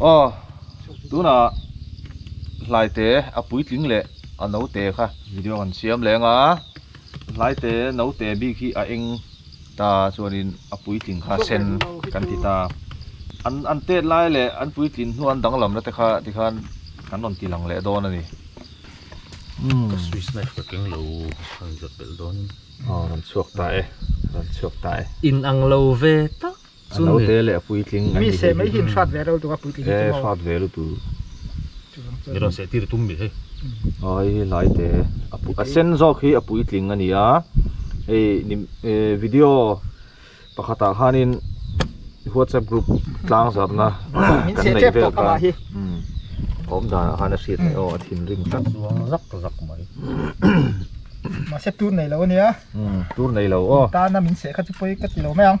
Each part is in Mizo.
Aw tunah Hlaite a puitling leh a naute kha video kan siam leng a, Hlaite naute bik hi a eng ta chuanin a puitling kha sen kan ti ta. An an tet lai leh an puitling hnu an danglam na te kha tikhan kan rawn ti lang leh dawn a ni. Umm. Ka swiss knife ka keng lo a rawn zawt belh dawn in. Aw rawn chhuak ta e, rawn chhuak ta e. Inang lo ve tak. Chun ni. Naute leh puitling an ni thei hi. Mi seh mai hi in hrat ve reutuk a puitling hi chu maw. He hrat ve lutu. Mirawn seh tir tum ni hi. Ai hi hlaite a sen zawk hi a puitling a nia hei video pakhatah khanin whatsapp group tlang zarna kan neih vel khan a awm danah khan a hriat theih aw a thinrim tlat chuang zak zak mai. Mahse tur nei lo a nia. Tur nei lo aw. Tana min seh kha chu pawi ka ti lo mai ang.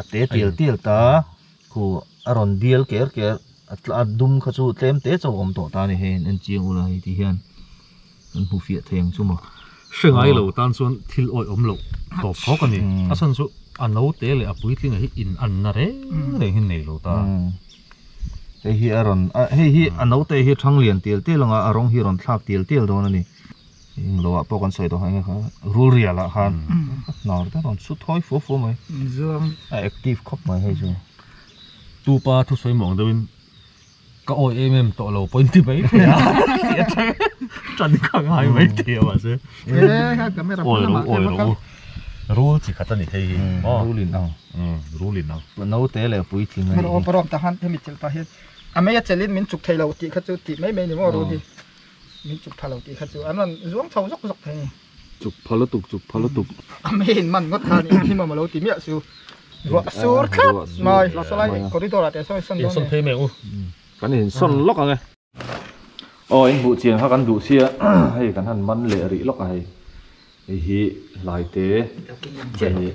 a te tial tial ta khu a rawn bial ker ker a tla a dum kha chu tlem te chauh awm tawh ta a ni hei an enchiang ula hei ti hian kan hmu fiah thei ang chu maw hre ngai lo tan chuan thil awih awm loh tawp fawk a ni a chhan chu a naute leh a puitling ah hi in an na reng reng hi nei lo ta hei hi a rawn hei hi a naute hi a thang lian tial tial ang a a rawng hi a rawn thlak tial tial dawn a ni. Eng lo ah pawh kan sawi dawn kha rul rial ah khan nau te rawn chhu thawi fuh fuh mai Zuang a active khawp mai hei chu tupa thu sawi mawng deuh in ka awi em em tawh lo pawh in ti mai thei a tih a chang a tan kha ngai mai thei a mah se awi ro awi ro u rul chi khat a ni thei hi maw rul in ang rul in ang naute leh puitling a ni hi pawh rawm ta han hemi thil pahit a mei a chelh in min chuk thei lo tih kha chu tih mai mai a ni maw rul hi. Min chuk tha lo tih kha chu an rawn zuang chho zawk zawk thei a ni. Chuk pha lutuk, chuk pha lutuk. A mi in man ngawt khan inhlim a malo ti miah chu ruah sur tlat mai. Salai leh corridor ah teh sawn i sawn dawn e. Insawn phei mai u. Kan insawn lawk ang e. Aw, inbuh chiang kha kan duh sia, hei kan han man leh rih lawk a hei. Hei hi hlaite ve ni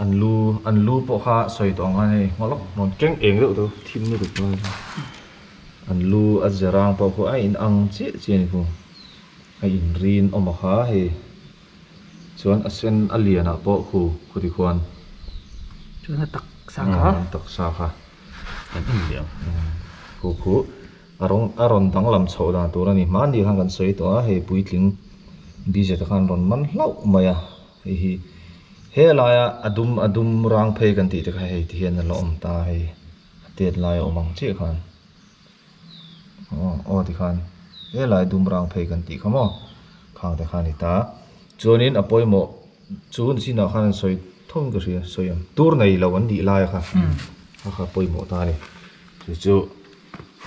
an lu an lu pawh kha sawi tawh ang khan hei ngawlawk ngawt keng eng deuh chu thim na duh dawn an lu a zirang pawh kha a in ang chiah chiah a ni hung a in rin awm a kha hei chuan a sen a lian ah pawh khu khutikuan taksa kha an en leh ang khu khu. A rawn a rawn danglam chhoh dan tur a ni hma ni khan kan sawi tawh a, hei puitling bizet a khan rawn man hlauh mai a, hei hi helaia a dum a dum rang phei kan tih te kha hei ti hian a la awm ta a, hei a tet lai a awm ang chiah khan aw aw tikhan helai dum rang phei kan tih kha maw khang te kha a ni ta chuanin a pawimawh chu ni chinah khan an sawi thung ka hria sawi ang tur nei lo an nih laia kha kha kha pawimawh ta a ni chu chu.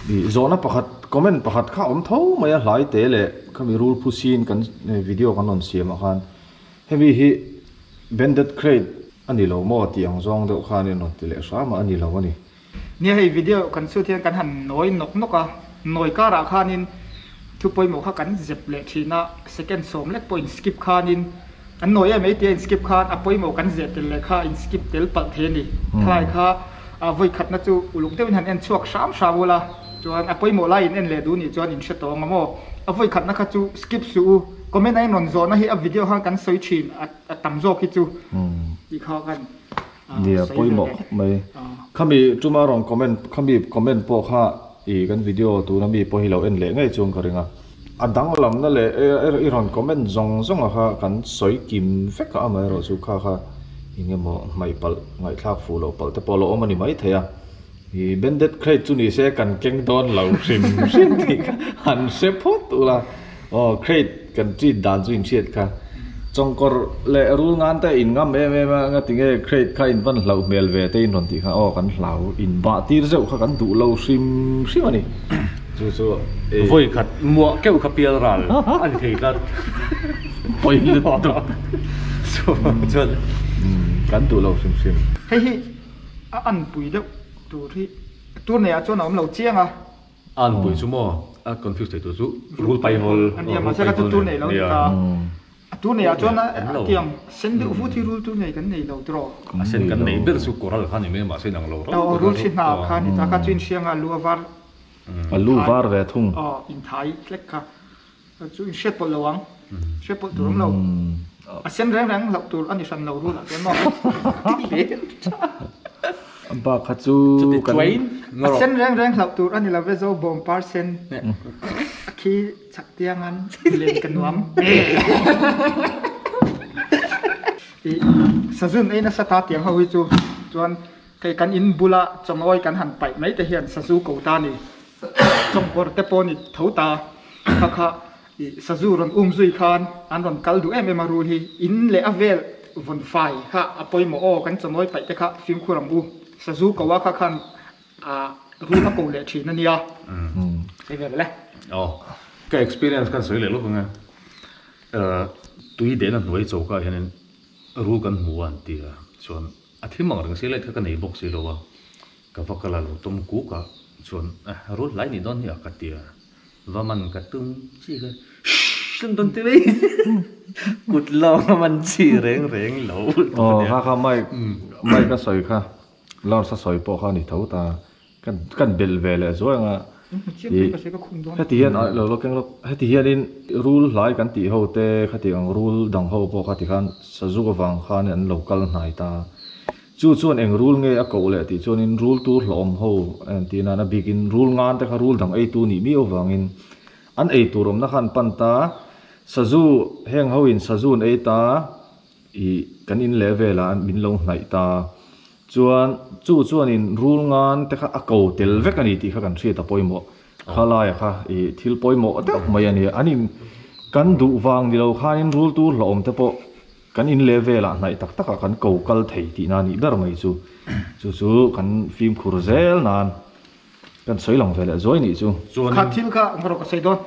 Ih zawhna pakhat comment pakhat kha awm tho mai a hlai te leh khami rul phu sin kan video kan rawn siam ah khan hemi hi banded crate a ni lo maw tih ang zawng deuh khan in rawn ti leh hram a a ni lo a ni. Nia hei video kan chhuat hian kan han nawi nawk nawk a nawi kar ah khan in. Thu pawimawh kha kan zep leh thin a, second sawm lek pawhin skip khanin an nawi em ei tia in skip khan a pawimawh kan zeh tel leh kha in skip tel palh thei a ni. Thalai kha a vawikhatna chu uluk deuhin han en chhuak hram hram ul a, chuan a pawimawh lai in en leh duh nih chuan in hre tawh ang maw? A vawikhatna kha chu skip suh u, comment a in rawn zawhna hi a video khan kan sawi thin a tam zawk hi chu tih kha kan. Nia pawimawh mai khami tuma rawn comment khami comment pawh kha ih kan video tuna mi pawh hi lo en leh ngei chuang ka ring a a danglamna leh i rawn comment zawng zawng a kha kan sawi kim vek a amaherawhchu kha kha engemaw hmaihpalh ngaihthlak fuh loh palh te pawh a lo awm a ni maithei a. I bended crate chu ni se kan keng dawn lo hrim hrim tih kha han hre phawt ula aw crate kan treat dan chu inhriat kha chawngkawr leh rul ngan te in ngam em em a anga tinge crate kha in van hlauh hmel ve te inhawn tih kha aw kan hlau in bah tir zeuh kha kan duh lo hrim hrim a ni chu chu e vawi khat muah keuh kha pial ral a ni thei tlat pawi lutuk chuan kan duh lo hrim hrim hei hi. A anpui deuh tur hi tur nei ah chuan a awm lo chiang a. A anpui chu maw? A confuse theih tur chu rul paihawl a nia mahse kha chu tur nei lo ni ta. A tur nei ah chuan a tiang sen deuh vut hi rul tur nei kan nei lo tiraw? A sen kan nei ber chu coral khan a ni mai a mahse inang lo rau pawh rul thli hna kha a ni ta kha chu inhrianga a lu a var a lu var ve thung. Aw inthai hlek kha. Kha chu inhriat pawlh lo ang, hriat pawlh tur ang lo. A sen reng reng loh tur a ni hran lo run ah chuan maw tih leh a. Bak kha chu a sen reng reng loh tur a ni lo ve zo bawm par sen neh a khi chak tiangan len ka nuam tih Sazun ei nasa ta tiang ho hi chu chuan kei kan in bula chawngawi kan han paih mai te hian Sazu ko ta ni. Chawmkawrte pawh ni tho ta kha kha ih sazu rawn um zui khan an rawn kal duh em em a rul hi in leh a vel vun fai kha a pawimawh aw kan chawmawi paih te kha fimkhur ang u sazu ko a kha khan ah run a ko leh thin a nia sawi ve le. Aw ka experience khan sawi leh lawk ang e ah tui dehna hnuai cho kha hian in ru kan hmu a an ti a chuan a thim ang reng se let kha ka nei bawk si lo a. Ka va kal a lo tawm kukah chuan eh rul hlai ni dawn hia ka tia va man ka tum chi kha shh hlim dawn teh mai kut lawng a man chi reng reng lo aw kha kha mic mic a sawi kha lawrs a sawi pawh kha a ni tho ta ka ka belh ve leh zuai anga heti hian a lo keng lawk heti hian in rul hlai kan tih ho te kha tih ang rul dang ho pawh kha tikhan sazu avang khan in an lo kal hnai ta. Chu chuan eng rule nge a koh leh tih chuanin rule tur hlauhawm ho en tih nana bikin rule ngan te kha rule dang eitu nih miau vangin an ei tur awmna kha an pan ta. Sazu heng hoin Sazu an ei ta ih kan in leh vela an min lo hnaih ta chuan chu chuanin rule ngan te kha a ko tel vek a ni tih kha kan hriat a pawimawh kha laia kha ih thil pawimawh deuh mai a ni. An in kan duh vang ni lo khanin rule tur hlauhawm te pawh Kan in leh velah hnaih tak takah kan ko kal thei tihna anih ber mai chu. Chu chu kan fimkhur zel nan kan sawi lang ve leh zuai nih chu. Chuan in. Kha thil kha engmah rawh ka sawi dawn.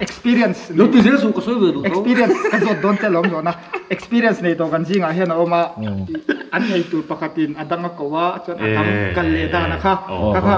Experience. Lo ti zel sung ka sawi ve duh tho. Experience ka zawt dawn che lawm zawh na. Experience nei tawh kan zingah hian a awm a. An nei tur pakhat in a dang a ko a chuan a dang kal leh dan a kha. Ka kha.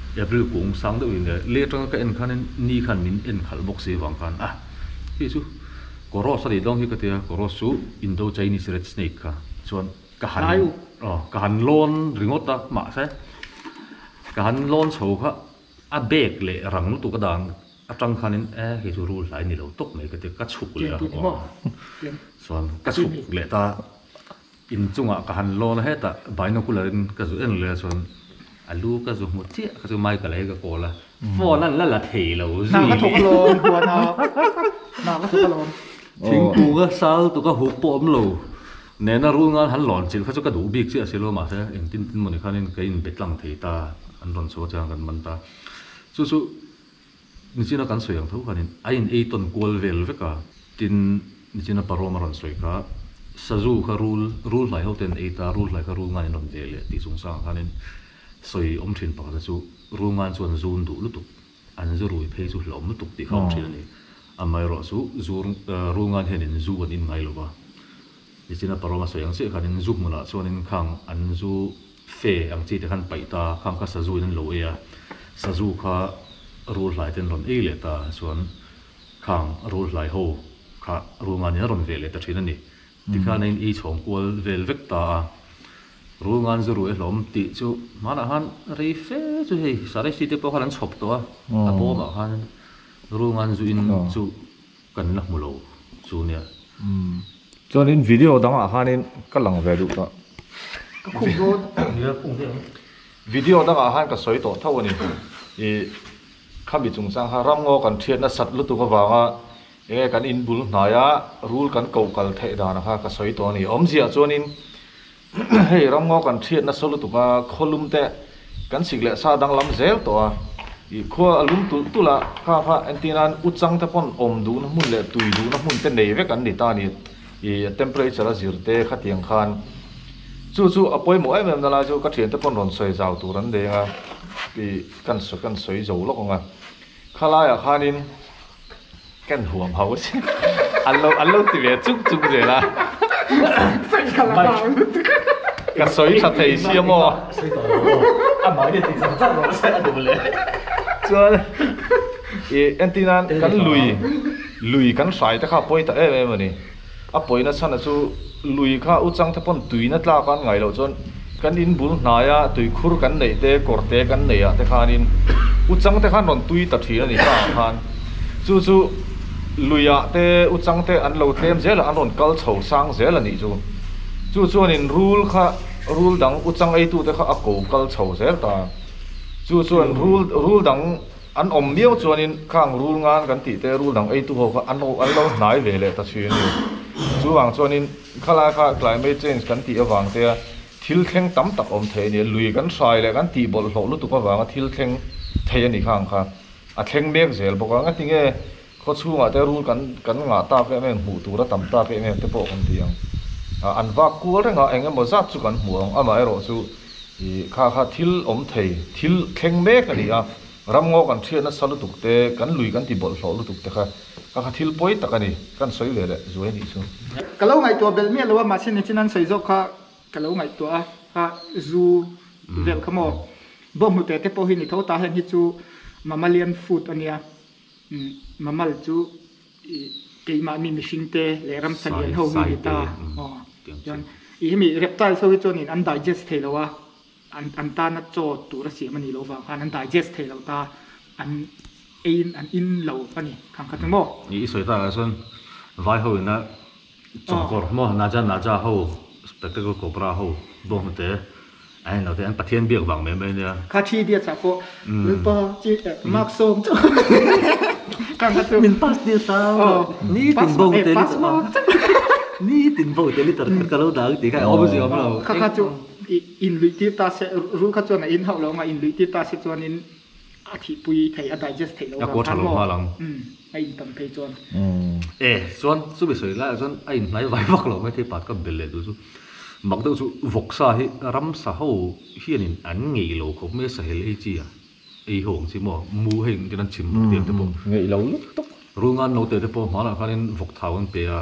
April kung sang deuh in leh leh atanga ka en khanin ni khan min en khalh bawk si avang khan a hei chu kaw rose a nih dawn hi ka tia kaw rose chu Indo Chinese red snake kha chuan ka han hlai u aw ka han lawn ringawt a mahse ka han lawn chho kha a bag leh rang lutuk a dan atang khanin e hei chu rul hlai ni lo tawk mai ka tia ka chhuk leh a aw chuan ka chhuk leh ta. Inchungah ka han lawn het a, binocular in ka zu en leh chuan a lu ka zu hmu chiah, ka chu mai ka lei ka kawl a, phone a la la thei lo zui. Hnah ka thawk alawm Puana, hnah ka thawk alawm. Thingkunga sal tuka huk pawh awm lo nen a rul ngan han lawn chilh kha chu ka duh bik chiah si lo, mahse engtin tin mawni khanin ka inbe tlang thei ta an rawn chho a chiang kan man ta chu chu. Nichina kan sawi ang tho khanin a in ei tawn kual vel vek a, tin Nichina Paroma rawn sawi kha Sazu kha rul, rul hnai ho ten ei ta, rul hnai kha rul ngan in rawn ve leh tih chung sangah khanin sawi awm thin pakhat a chu rul ngan chuan zun duh lutuk an zu rui phei chu hlauh awm lutuk tih kha awm thin a ni. Amaherawh chu zu rul ngan hianin zu an in ngai lo va, Nichina Paroma sawi ang chiah khanin zu hmunah chuanin khang an zu Fe ang chi te khan paih ta, khang kha Sazu in an lo ei a, Sazu kha rul hlai ten rawn ei leh ta chuan khang rul hlai ho kha rul ngan in a rawn ve leh ta thin a ni. Tikhan a in ei chhawng kual vel vek ta a, rul ngan zu ru e hlawm tih chu hmanah khan rei fe chu hei Saraihsi te pawh khan an chhawp tawh a, a bawmah khan rul ngan zu in chu Kan la hmu lo chu nia. Umm. Chuanin video dangah khanin ka lang ve duh ta. Ka khum dawn nia khum ve ang. Video dangah khan ka sawi tawh tho a ni. I khami chung chang kha ramngaw kan thiat nasat lutuk avanga enge kan inbul hnaia rul kan koh kal theih dan a kha ka sawi tawh a ni. Awmzia chuanin. Hei ramngaw kan thiat nasa lutuka khawlum te kan sik leh sa danglam zel tawh a, ih khua a lum tulh tulh a, ka kha entir nan u chang te pawn awm duhna hmun leh tui duhna hmun te nei vek an ni ta ni, ih temperature a zir te khatiang khan chu chu a pawimawh em em na lai chu ka thiante pawn rawn sawi zau tur an deng a, ih ka kan sawi zo lawk ang a. Khalaiah khanin kan huam ho si an lo an lo ti ve chung chung zel a. Ka sawi tha thei si a maw? Chuan i entin a kan lui lui kan hrai te kha pawi ta em em a ni. A pawi nasana chu lui kha u changthapawn tuina tlaka an ngaih loh chuan kan in bul hnaia tuikhur kan neih te kawr te kan neih ah te khanin u changte khan rawn tui ta thin a ni tlak ah khan chu chu luia te u changte an lo tlem zel ah an rawn kal chho sang zel a nih chu chu chuan in rul kha rul dang u chang ei tu te kha a ko kal chho zel ta chu chuan rul rul dang An awm miau chuanin khang rul ngan kan tih te rul dang eitu ho kha an lo an lo hnai ve leh ta thin a ni. Chuvang chuanin khalai kha climate change kan tih avang te a thil thleng tam tak awm thei a ni. Lui kan hrai leh kan tih bawlh hlawh lutuk avanga thil thleng thei a ni khang kha a thleng mek zel bawk a. Ngatinge? Khaw chhungah te rul kan kan ngah tak em em, hmuh tur a tam tak em em te pawh kan ti ang. A an vak kual rengah eng emaw zat chu kan hmu ang, amah erawh chu i kha kha thil awm thei, thil thleng mek a ni a, ramngaw kan thian nasa lutuk te, kan lui kan ti bawlh hlawh lutuk te kha kha kha thil pawi tak a ni, ka han sawi ve leh zuai anih chu. Ka lo ngaihtuah belh miah lo a, mahse nichin an sawi zawk kha ka lo ngaihtuah a, kha zu velh kha maw, bawnghnute te pawh hi ni tho ta, heng hi chu mammalian food a nia, Mamal chu i keimah mi mihring te leh ramsa lian ho mi ni ta aw chuan i hemi reptiles ho hi chuan in an digest thei lo a an an tana chaw tura siam a nih loh vang khan an digest thei lo ta an eiin an in lo a ni thang khat emaw. I sawi takah chuan vai ho ina. Chawngkawr maw Naja Naja ho spectacle cobra ho bawk hnu te an inlo te an Pathian biak vang mai mai nia. Kha thi biak chah pawh min pa chi eh Mark Sawm chu ka nga chu. Min pass tir ta ni tin bo te pass mark chu ni tin bo te litter khat ka lo dang tih kha a awm zi awm lo. Kha kha chu in luih tir ta se ru kha chuan a in hauh lo ang a in luih tir ta se chuan in. A thihpui thei a digest theih lo vang khan maw a in tam phei chuan. E chuan chumi sawi laiah chuan a in hnai vai vak lo mai thei pat ka bel leh duh chu mak deuh chu vawksa hi ramsa ho hianin an ngeih lo khawp mai a sahel ei chi a ei ho ang chi maw mu hei engtin an chim rawh tih ang te pawh ngeih lo lutuk runga an lo teh te pawh hmanah khanin vawk thau an pe a.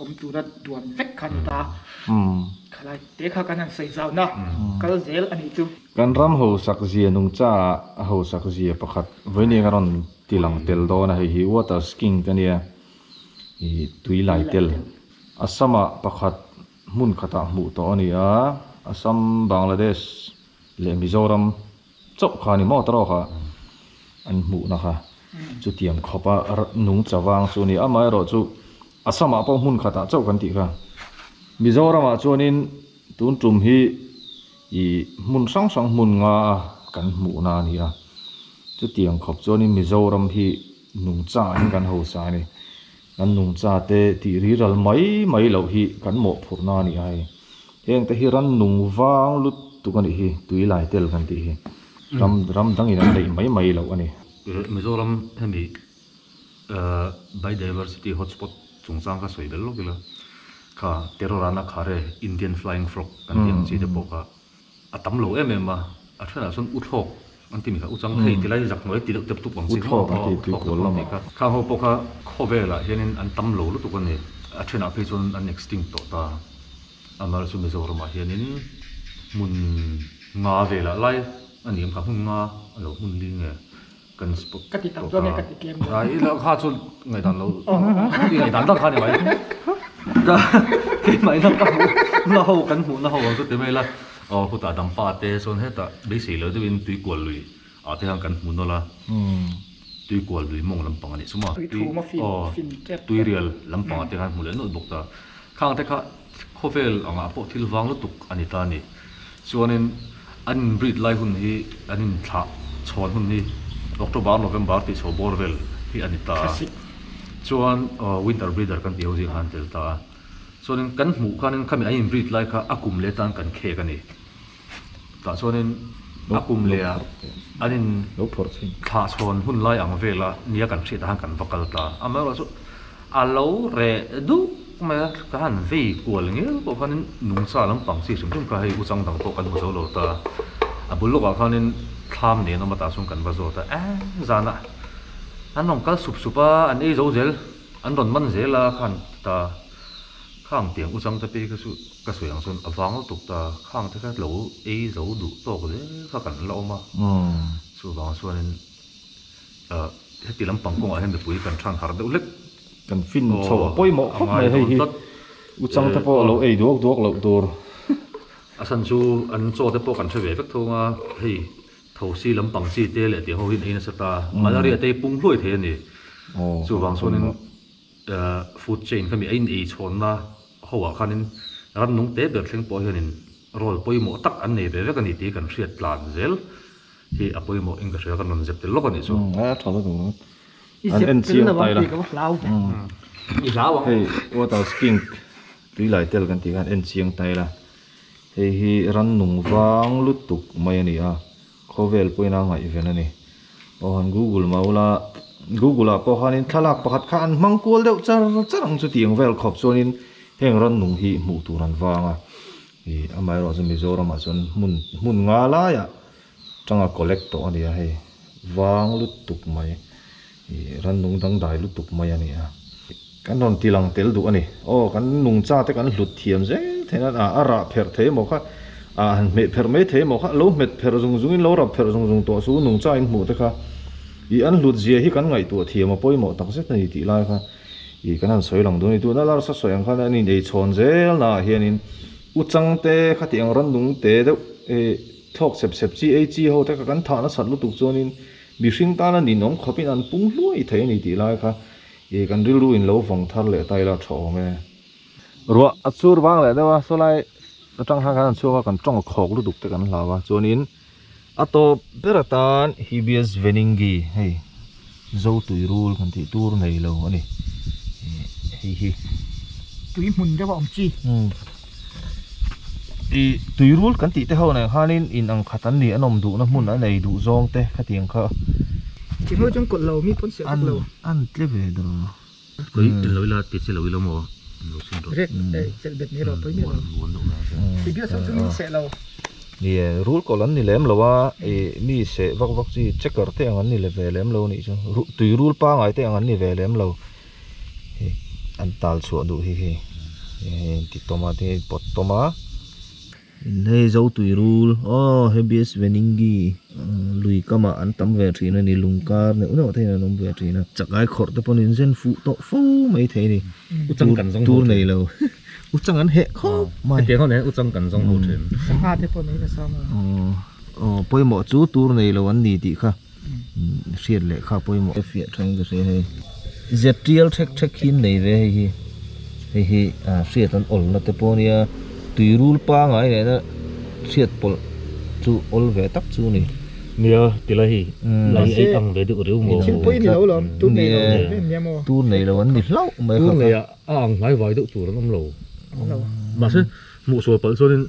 awm tura tuam vek kha an ni ta a, khalai te kha kan han sawi zau na kal zel a nih chu. Kan ram hausak zia nung caah a hausak zia pakhat vawinia ka rawn ti lang tel dawn a, hei hi water sking ka nia, i tui lai tel. Assam-ah pakhat hmun khatah hmuh tawh a ni a, Assam, Bangladesh leh Mizoram chauh kha a ni maw ta rawk a an hmuh na kha chutiang khawp a nung chavang chu a ni a amah erawh chu assamah pawh hmun khat ah chauh kan tih kha mizoram ah chuan in tun tum hi ih hmun hrang hrang hmun nga a kan hmuh na a ni a chutiang khawp chuan in mizoram hi nung chah in kan ho sa a ni Kan nungchate tih riral mai mai loh hi kan mawhphurhna a ni a hei. Heng te hi ran nung vang lut tuk a nih hi, tui lai tel kan tih hi. Ram ram dang in an neih mai mai loh a ni. Mizoram hemi biodiversity hotspot chungchang kha sawi bel lawk ila, kha terror a na khare Indian flying frog kan tih ang chi te pawh kha A tam lo em em a, a ṭhenah chuan U Thlawk an ti mi kha, U Changthei ti lai zak hnuai ti deuh tep tuk ang si maw? U Thlawk an ti pui kual lam a. Thla ho pawh kha khaw velah hianin an tam lo lutuk a ni, a ṭhenah phei chuan an extinct tawh ta. Amar chu Mizoramah hianin hmun nga velah lai a ni ang kha, hmun nga a lo hmun li nge? Kan spot ka ti tak chuan ka ti tlem lo. I la kha chuan ngaih dan lo i ngaih dan dan kha ni mai. Ka keimah ina ka hmuhna ho kan hmuhna ho ang chu ti mai la aw khutah dang pa te chuan hetah beisei lo deuhin tui kual lui ah te hian kan hmu nawla tui kual lui mawng lampang a nih suma tui aw tui rial lampang te khan hmu leh nawt bawk ta khang te kha Khawvel angah pawh thil vang lutuk a ni ta ni. Chuanin an inbrid lai hun hi, an inthlah chhawn hun hi October, November tih chho bawr vel hi a ni ta a. Chuan winter breeder kan tih ho zingah an tel ta a. Chuanin kan hmuh khanin khami an inbrid lai kha a kum leh tan kan khek a ni. tah chuanin a kum leh a an in thlah chhawn hun lai ang vel a nia kan hriat ah khan kan va kal ta, amaherawhchu chu a lo reh duh mai a ka han vei kual ngeu pawh khanin nungcha lampang chi hrim hrim kha hei u chang dang pawh kan hmu zo lo ta, a bul lawkah khanin thlam nen awm atah chuan kan va zawt a eng zan a an rawn kal sup sup a an ei zo zel an rawn man zel a kha han ti ta kha ang tiang u chang te pawh hi kha chu. Ka sawi ang chuan a vang lutuk ta, khang te kha lo ei zo duh tawk zel kha kan la awm a, chuvang chuanin heti lampang kawngah hian mipui kan than harh deuh hlek. Kan fin chho a pawimawh khawp mai hei hi, u chang te pawh a lo ei duak duak loh tur. A san chu an chaw te pawh kan hre ve vek thung a, hei thosi lampang chi te leh tih ho hi an ei nasa ta, malaria te hi pung hluai thei a ni, chuvang chuanin. food chain kha mi a inei chhawnna hoah khanin ram nung te ber thleng pawh hianin role pawimawh tak an nei ve vek a ni tih kan hriat tlan zel hi a pawimawh in ka hria ka rawn zep tel lawk a nih chu. I zep tel lo ang tih ka va hlau ber a. I hlau ang. Hei water skink tui lai tel kan tih khan a enchiang tail a, hei hi ram nung vang lutuk mai a ni a, Khawvel pawhin a ngaihven a ni. Aw han Google mah ula, Google ah pawh khanin thlalak pakhat kha an hmang kual deuh char char ang chuti ang vel khawp chuanin heng rannung hi hmuh tur an vang a. Ih amaherawh chu Mizoram ah chuan hmun hmun nga laiah tanga collect tawh a nia hei. Vang lut tuk mai. I ran nung dangdai lutuk mai a nia. Kan rawn ti lang tel duh a ni. Aw, kan nung cha te kan hlut thiam zel theih nan a, a rah pherh thei emaw kha, a han hmeh pherh mai thei emaw kha, lo hmet pherh zung zungin, lo rap pherh zung zung tawh chu nung cha inhmuh te kha i an hlut zia hi kan ngaihtuah thiam a pawimawh tak zet a ni tih lai kha i kan han sawi lang duh a ni. Tuna Larsa sawi ang khan an inei chhawn zel naah hianin U Chang te, khatiang rannung te deuh, e thlawk sep sep chi ei chi ho te kha kan thah nasat lutuk chuanin, Mihring tana ninawm khawpin an pung hluai thei a ni tih lai kha ih kan rilru in lo vawng thar leh ta ila tha awm e. Ruah a chur vang leh deuh a, sawlai atang han khan an chhuak a, kan tawng khawk lutuk te kan hlau a, chuanin a tawp ber atan Hibias Veninggi hei zo tuirul kan tih tur nei lo a ni. Ih hei hi. Tui hmun deuh a awm chi. ih tuirul kan tih te ho nen khanin in ang khat an nih an awm duhna hmun a nei duh zawng te khatiang kha ti ho chuan kawlh lo mi pawn siah vek lo an tle ve dawh lo kei in lo ila ti che lo ila maw in lo chhun rawh red eh chelh bet ni rawh pawimawh lo vuan deuh mai ase ti bial sawm chu min seh lo nia rul kawlh an ni lem lo a ih mi seh vak vak chi checker te ang an ni leh ve lem lo a nih chu tuirul pangai te ang an ni ve lem lo. an tal chhuah duh hi hei an ti tawm a tin an inpawt tawm a hei zo tui rul aww hei bsvnningi lui kam ah an tam ve thin a ni lung kar neuh neuh te in an awm ve thin a chakai khawr te pawh in zen fuh tawh fo mai thei a ni tur nei lo u chang an heh khawp mai hetiang ho nain u chang kan zawng hlo thin sangha te pawh nei ta sawm lo aww pawimawh chu tur nei lo an ni tih kha. Hriat lehkha pawimawh te fiah thang ka hrei hei. Ztial hrek hrek hi an nei ve hei hi. Hei hi hriat an awlna te pawh a nia. Tui rul pangai nena hriat pawlh chu awl ve tak chu a ni. Nia ti la hi. Lei a ei ang ve deuh reu maw. Thil pawhin a lo la awm. Tur nei lo ang ve em nia maw. Tur nei lo an ni hlauh mai kha. Tur nei ah a ang hnai vai deuh tur an awm lo. Mahse hmuhsual palh chuanin.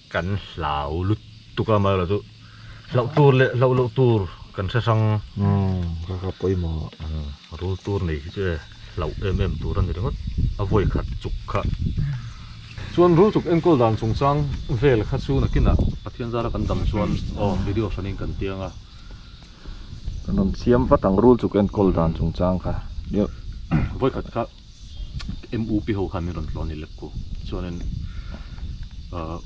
Kan hlau lut tuk a mahla chu hlauh tur leh hlauh loh tur kan hre hrang. Kaka pawimawh a rul tur nei hi chu e hlauh em em tur a ni ringawt a vawi khat chuk kha chuan rul chuk enkawl dan chungchang vel kha chu nakinah Pathian zara kan dam chuan aw video hranin kan ti anga kan rawn siam vat ang rul chuk enkawl dan chungchang kha vawi khat kha. em upi ho khan min rawn tluan ni lek ku chuanin ah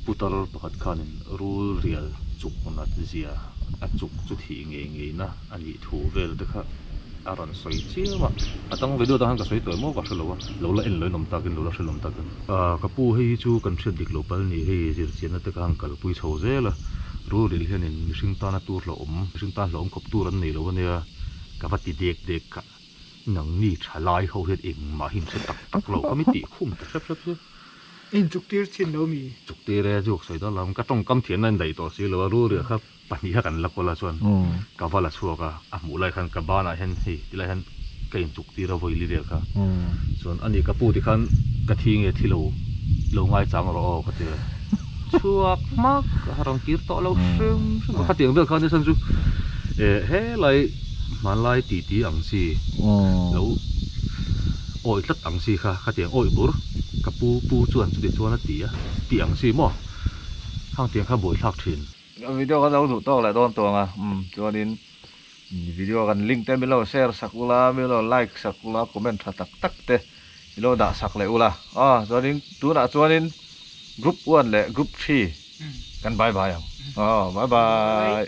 putar pakhat khanin rul rial chuk hunah zia a chuk chu thih ngei ngei na a nih thu vel te kha a rawn sawi chiam a, a tang ve duai tan khan ka sawi tuai maw ka hre lo a, lo la en loi nawm takin lo la hre lawm takin ah ka pu hei hi chu kan hriat dik lo pal ni hei zir chian na te khan kal pui chho zel a, rul rial hianin mihring tana tur hlauhawm mihring tan hlauhawm khawp tur an nei lo a nia ka va ti dek dek kha. Nangni tha lai ho hian engmah hi nasa tak tak lo ka mi tih khum ta hrep hrep chu. I inchuktir chin lo mi. Chuktir e, zuk sawi dawn lo. Ka tawngkam thiamna indaih tawh si lo a, rulriah kha pahniha kan la kawlh a chuan ka va la chhuak a, a hmuh lai khan ka banah hian hei ti lai hian ka inchuktir a vawi li vel kha. Chuan ani ka pu tikhan ka thi nge thi lo, lo ngai chang rawh aw ka ti a. chhuak hmak a rawn kir tawh lo hrim hrim a khatiang vel khan nisan chu eh helai hmanlai titi ang chi lo awih tlat ang chi kha khatiang awih bur ka pu pu chuan chu tichuan a ti a tih ang chi maw khang tiang kha buaithlak thin. Video kan lo duh tawk leh dawn tawng a, umm chuanin Video kan link te milo share sak ula milo like sak ula comment tha tak tak te milo dah sak leh ula aw chuanin tunah chuanin group one leh group three kan bye bye ang aw bye bye.